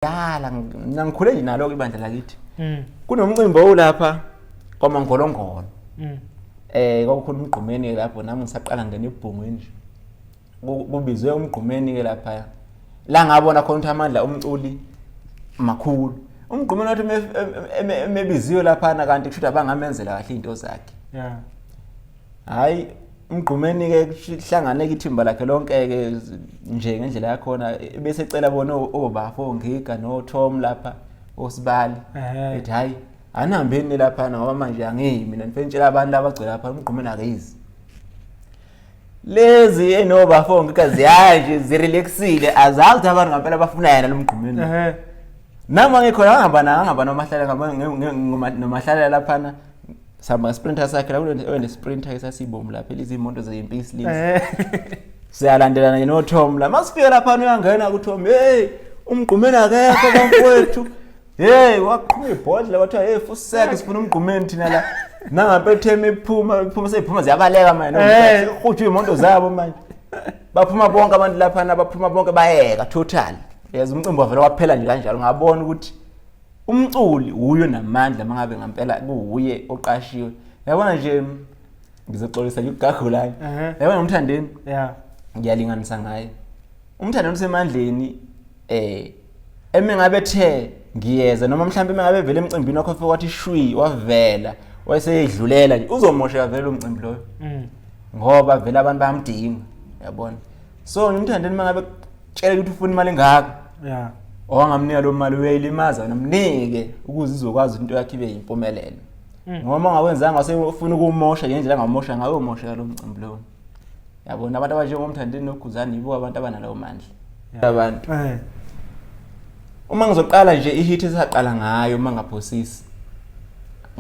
kudala mina ngikhule nje nalo ibandla lakithi mm. kunomcimbi owulapha kwamangolongolo mm. eh kwakukhona umgqumeni ke lapho nami ngisaqala ngena ebhungwini nje kubizwe umgqumeni ke lapha la ngabona khona ukuthi amandla omculi makhulu umgqumeni wathi emebiziwe laphana kanti kushuthi abangamenzela kahle into zakhe yeah hayi mgqumeni-ke kuhlangane-ke ithimba lakhe lonke-ke nje ngendlela yakhona bese ecela bona obafo oh, oh, ngiga notom lapha osibali ethi hhayi anihambeni laphana ngoba manje angiyi mina ngifike ngitshela abantu laba agcwele lapha umgqumeni akeyizi lezi enobafo oh, ngiga ziyaya nje zirelaxile azazi ukuthi abantu ngampela bafuna yena lo mgqumeni nami angikhona angabana angabana omahlalela ngomahlalela laphana sama sprinter sakhe la wena sprinter esasibomu lapha izimoto zeyimpi isilisa eh. siyalandelana yena oTom la masifika lapha uyangena kuTom hey umgqumeni akekho bafowethu hey waqhuma ibhodla wathiwa hey fuseke sifuna umgqumeni thina la nangapethema iphuma iphuma seyiphuma ziyabaleka manje eh. uhutshwa imoto zabo manje baphuma bonke abantu lapha baphuma bonke bayeka total yazi umcimbi wavela waphela nje kanjalo ngabona ukuthi umculi wuyo namandla mangabe ngampela kuwuye oqashiwe yabona nje ngizoxolisa yukugagulana yabona umthandeni yeah ngiyalinganisa ngaye umthandeni usemandleni eh eme ngabe the ngiyeza noma mhlawumbe eme ngabe vele emcimbini wakho fe wathi shwi wavela wayeseyidlulela nje uzomosheka vele umcimbi loyo mm. ngoba vele abantu bayamdinga yabona so ngimthandeni uma ngabe tshela ukuthi ufuna imali engaka ya owangamnika lo mali uyayilimaza nomnike ukuze izokwazi into yakhe ibe yimpumelelo Mm. ngoba uma ngawenzanga usefuna ukumosha ngendlela angamosha ngayo umosha lo mcimbi lowo yabona abantu abanjengomthandeni noguzane yibo abantu abanalawo mandla abantu Eh. Uma ngizoqala nje ihit esaqala ngayo uma ngaphosisi.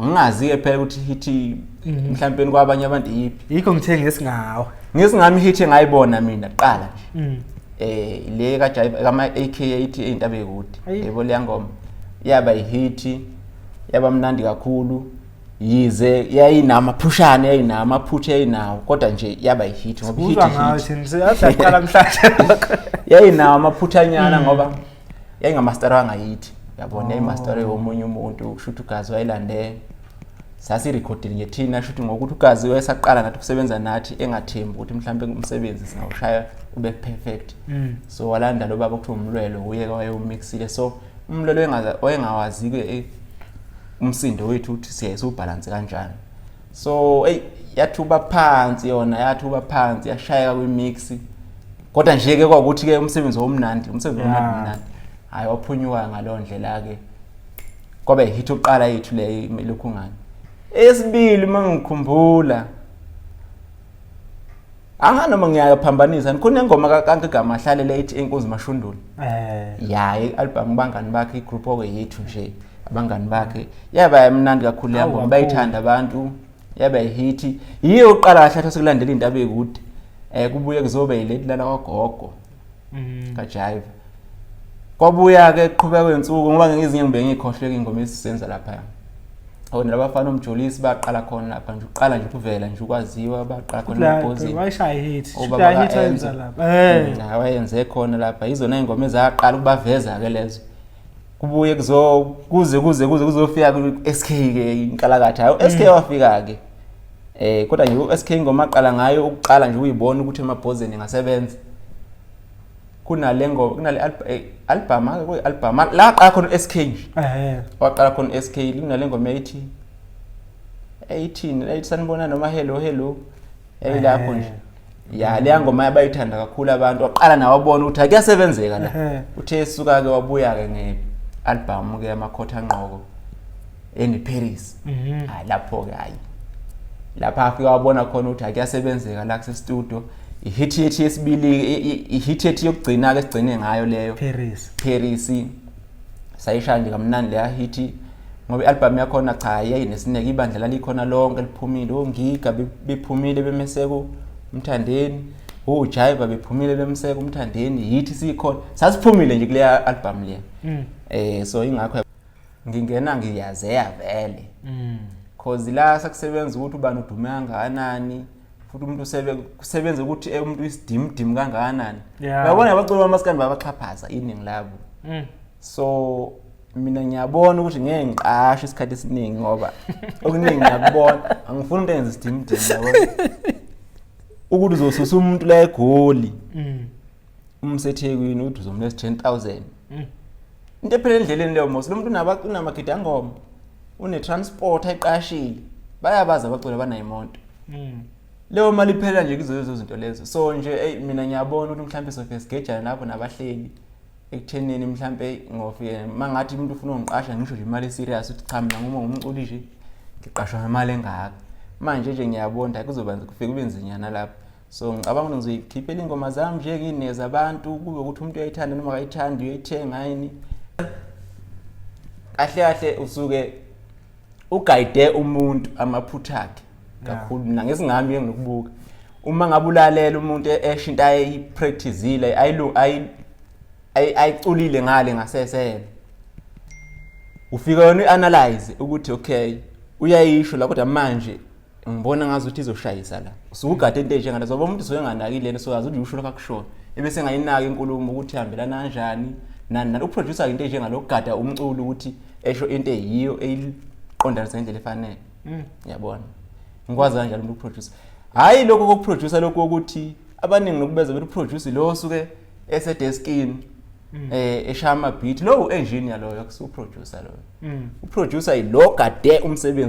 Ngingazi ke phela ukuthi hit mhm. mhlawumbe kwabanye abantu yipi. Yikho ngithe ngesingawo. Ngesingami hit engayibona mina qala nje. Mhm. Eh le ka Jive kama AK80 eintabe kude. Yebo leyangoma. Yaba ihit yaba mnandi kakhulu. yize yayinamaphushana yayinamaphutha yayinawo kodwa nje yaba yihit ngoba ihit uzwa ngayo thina siyaqala mhlanje yayinawo amaphuthanyana hmm. ngoba yayingamaster wangayithi yabona oh. yayimaster yomunye umuntu kusho ukuthi ugazi wayilandele sasirekhodile nje thina shuthi ngokuthi ugazi wayesaqala nathi ukusebenza nathi engathembi ukuthi mhlawumbe umsebenzi singawushaya ube perfect hmm. so walanda lo baba kuthiwa umlwelo uye wayewumixile so umlwelo wayengawazi-ke eh, umsindo wethu uthi siyayisa ubhalansi kanjani so eyi yathuba phansi yona yathuba phansi yashayeka kwimix kodwa nje ke kwakuthi ke umsebenzi womnandi umsebenzi womnandi mnandi hayi waphunyuka ngaleyo ndlela ke kwabe hit uqala yethu le lokhu ngani esibili mangikhumbula Aha noma ngiyaphambanisa nikhona ingoma kaKanke Gama ahlalele ithi enkunzi mashundula. Eh. Ya i-album bangani bakhe igroup oke yethu nje abangani bakhe yaba yamnandi kakhulu le album bayithanda abantu yaba hit yiyo uqala kahle athi sekulandela indaba ekude eh kubuye kuzobe ileti lana kwagogo mm. kajayiva kwabuya-ke qhubeka kwensuku ngoba ngezinye ngibe ngiyikhohleke ingoma esizenza laphaya awona laba fana omjolisi baqala khona lapha nje uqala nje ukuvela nje ukwaziwa baqala khona ebhozini wayishaya hit wayenza lapha eh mm, wayenze khona lapha izona ingoma ezaqala ukubaveza ke lezo kubuye kuzo kuze kuze kuze kuzofika ku-SK ke inkalakatha hayi u-SK wafika ke eh kodwa nje u-SK ingoma aqala ngayo ukuqala nje uyibona ukuthi emabhozeni ngasebenza kunale ngoma kunale alb- eh, album ake kuyi album la qala khona u-SK nje ehe waqala khona u-SK kunale ngoma ethi 18 ethi sanibona noma hello hello elilapho nje ya leya ngoma yabayithanda kakhulu abantu waqala nawe wabona ukuthi akuyasebenzeka la uthe esuka-ke wabuya-ke nge-albhamu-ke yamakhotha ngqoko engiparis mhm. hayi lapho-ke hhayi lapha afika wabona khona ukuthi akuyasebenzeka la kusestudio ihithi yethi yesibili ihithi yethi yokugcina-ke sigcine ngayo leyo paris sayishaya nje kamnandi leya hithi ngoba i-albhamu yakhona cha yayinesineke ibandla lalikhona lonke liphumile ongiga bephumile bemeseko umthandeni ujayiva bephumile bemseka umthandeni yithi sikhona sasiphumile nje kuleya album le mm. eh so ingakho ngingena ngiyazeya vele mm. cause la sakusebenza ukuthi ubani udume kangakanani futhi umuntu usebenza ukuthi eh, umuntu isidimdimu kangakanani uyabona abaculi bamaskandi babaxhaphaza iningi labo mm. so mina ngiyabona ukuthi ngeke ngiqashe isikhathi esiningi ngoba okuningi ngiyakubona angifuni into engenza isidimdimu yabona ukuthi uzosusa umuntu la egoli mm. uma usethekwini uthi uzomlesa 10000 mm. into ephela endleleni leyo mos lo muntu unamagidi angoma une-transport ayiqashile bayabazi abaculi abanayo imonto mm. leyo mali iphela nje kuzo lezo zinto lezo so nje eyi mina ngiyabona ukuthi mhlawumbe sofike sigejane lapho nabahleli ekuthenini mhlawumbe ngofike uma ngathi umuntu ufuna ungiqasha ngisho nje imali eserious ukuthi cha mina nguma ngumculi nje ngiqashwa ngemali engaka manje nje ngiyabonda kuzoba kufike kube nzinyana lapho so ngicabanga ukuthi ngizoyikhiphela iy'ngoma zami nje nginikeza abantu kube ukuthi umuntu uyayithanda noma akayithandi uyoyithenga yini kahle kahle usuke ugayide umuntu amaphutha akhe kakhulu mina ngesingami enginokubuka uma ngabe ulalela umuntu e-, esho into ayipracticile ayiculile ngale ngasesele ufika wena uanalyze ukuthi okay uyayisho la kodwa manje ngibona ngazi ukuthi izoshayisa la usukugade into enjengana zoba umuntu usuke enganaki lento so azuthi usho lokho akushoyo ebese ngayinaki inkulumo ukuthi ihambelana kanjani nani nani uproducer into enjengalo kugada umculo ukuthi esho into eyiyo eyiqondanisa ngendlela efanele mm. yabona ngikwazi kanjalo umuntu uproducer hayi lokho kokuproducer lokho ukuthi abaningi nokubeza bethi uproducer lo osuke esedeskini mm. eh eshaya ama beat lo engineer loyo akusuproducer loyo mm. uproducer yilo gade umsebenzi